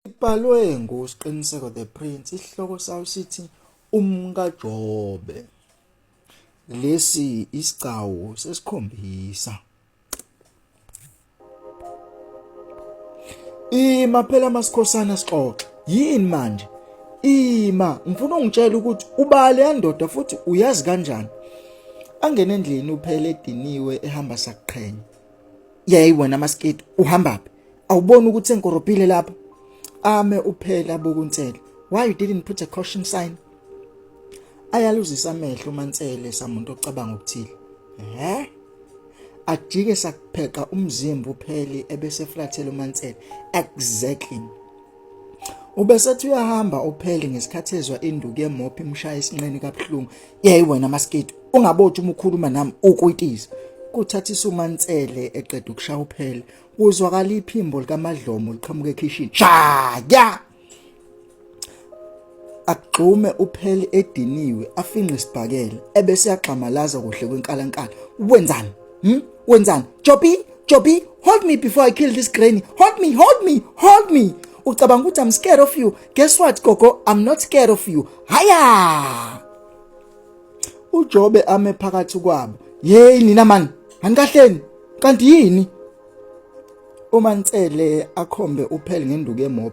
Ibhalwe nguSqiniseko the Prince, isihloko sayo sithi umkaJobe. Lesi isigcawu sesikhombisa. Ima phela masikhosana sixoxe. Yini manje? Ima, ngifuna ungitshela ukuthi ubale yandoda futhi uyazi kanjani? Angene endlini uphele ediniwe ehamba sakuqhenya. yayi wena masketi uhamba phi awuboni ukuthi senkoropile lapha ame uphela bokunsela why you didn't put a caution sign ayaluzisa amehlo umansele samuntu ocabanga ukuthile eh ajike sakupheqa umzimba uphele ebese flathela umansele exactly ubesethi uyahamba uphele ngesikhathi ezwa induku yemophi imshaya isinqeni kabuhlungu yayi wena masketi ungabothi uma ukhuluma nami ukwitisa kuthatha isumansele eqeda ukushaya uphele kuzwakala iphimbo likamadlomo liqhamuka ekhishini shaya agxume uphele ediniwe afinqe isibhakela ebese yaxamalaza kuhle kwenkalankala wenzani hm wenzani jobi jobi hold me before i kill this granny hold me hold me hold me ucabanga ukuthi i'm scared of you guess what gogo i'm not scared of you haya ujobe ame phakathi kwabo hey nina man anikahleni kanti yini uma nsele akhombe uphele ngenduku emob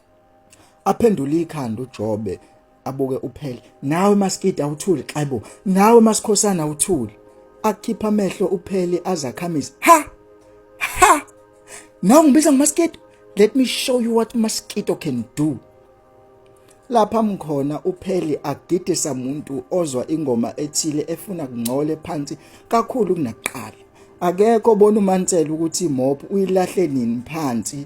aphendule ikhanda uJobe abuke uphele nawe maskida uthuli xebo nawe masikhosana uthuli akhipha amehlo uphele azakhamisa ha ha nawe ngibiza ngomaskida let me show you what mosquito can do lapha mkhona upheli agidisa umuntu ozwa ingoma ethile efuna kungcole phansi kakhulu kunaqala akekho bona umansela ukuthi mob uyilahle nini phansi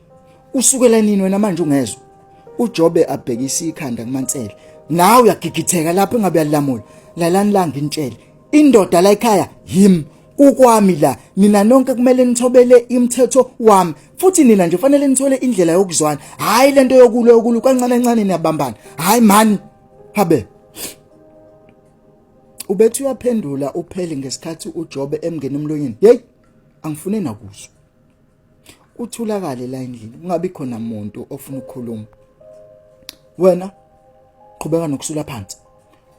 usukela nini wena manje ungezwa uJobe abhekisa ikhanda kuMansele nawe uyagigitheka lapho engabe yalamula lalani la ngintshele indoda la ekhaya him ukwami la nina nonke kumele nithobele imithetho wami futhi nina nje fanele nithole indlela yokuzwana hayi lento yokulo yokulu kancane kancane niyabambana hayi man habe ubethi uyaphendula upheli ngesikhathi uJobe emngena emlonyeni hey angifune nakuzwa uthulakale la endlini kungabi khona muntu ofuna ukukhuluma wena qhubeka nokusula phansi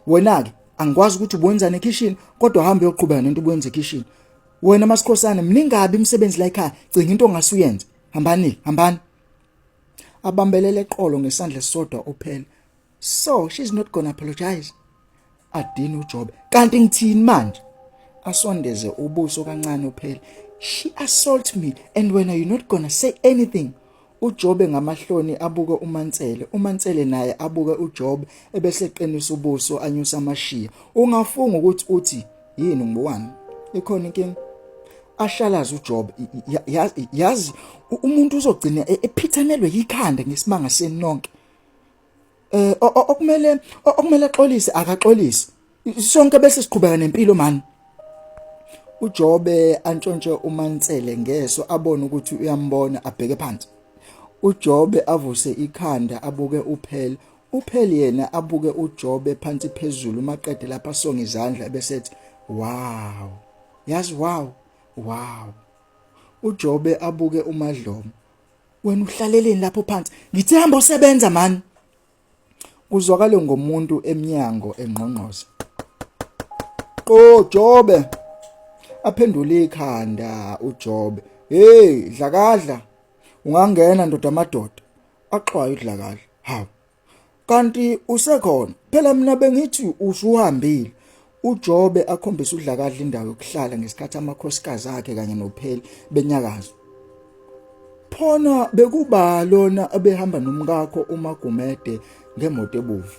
wena ke angikwazi ukuthi ubonzane ekishini kodwa hamba uyoqhubeka nento ubuyenza ekishini wena masikhosana mningabi imisebenzi la ekhaya cinga into ongasuyenza hambani hambani abambelele eqolo ngesandla sisodwa uphela so she's not gonna apologize adini ujob kanti ngithini manje asondeze ubuso kancane uphele she assault me and when are you not gonna say anything uJobe ngamahloni abuke uMansele uMansele naye abuke uJobe ebese qinisa ubuso anyusa amashiya ungafunga ukuthi uthi yini ngibowami ikhona inkinga ashalaza uJobe yazi umuntu uzogcina e-, ephithanelwe yikhanda ngesimanga senonke eh okumele okumele axolise akaxolise sonke bese siqhubeka nempilo mani uJobe antshontshe uMansele ngeso abone ukuthi uyambona abheke phansi uJobe avuse ikhanda abuke uphele uphele yena abuke uJobe phansi phezulu maqede lapha songa izandla besethi wow yazi wow wow uJobe abuke uMadlomo wena uhlaleleni lapho phansi ngithe hamba osebenza mani kuzwakale ngomuntu emnyango engqongqoza qo jobe aphendule ikhanda ujobe hey dlakadla ungangena ndoda amadoda axwaye udlakadla hawu kanti usekhona phela mina bengithi usuhambile uJobe akhombisa udlakadla indawo yokuhlala ngesikhathi amakhosikazi akhe kanye nopheli benyakaza phona bekuba lona abehamba nomkakho uMagumede ngemoto ebuvu